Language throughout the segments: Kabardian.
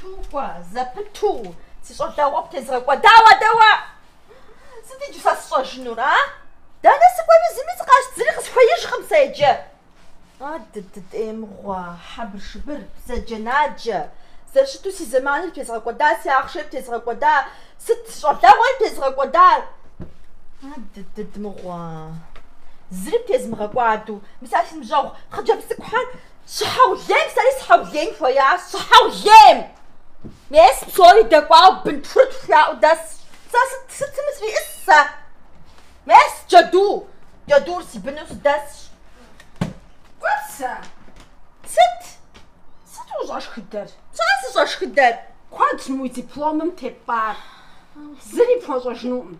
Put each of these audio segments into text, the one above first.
Тукӏуэ, зэпыту, си щӏалэгъуэ птезгъэкӏуэдауэ адэ уэ! Сыт иджы сэ сщӏэжынур, а? Дэнэ сыкӏуэну зыми сыкъащ, зыри къысхуеижкъым сэ иджы. А дыдыдей мыгъуэ, хьэбыршыбыр, бзаджэнаджэ, зэрыщыту си зэманыр птезгъэкӏуэда, си ахъшэр птезгъэкӏуэда, сыт си щӏалэгъуэр птезгъэкӏуэдар? А дыдыд мыгъуэ, зыри птезмыгъэкӏуэду, мис а си ныбжьэгъу хъыджэбз цӏыкӏухэр Щыхьэулейм сэри сыхьэулейн хуеящ, сыхьэулейн! Мес псори дэкӏуауэ бын тхурытху яӏэу дэсщ. Сэ сыт, сытым срищӏыс сэ! Мес джэду, джэдур си быну сыдэсщ. Кӏуэт сэ! Сыт? Сыт ущӏэшхыдэр? Сэ сыщӏэшхыдэр? Куэдщ мы уи дипломым тепӏар. Зыри пхуэщӏэжынукъым.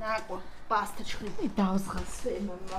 Накӏуэ, пӏастэ тшхын. И дауэ згъэсуей мамэ.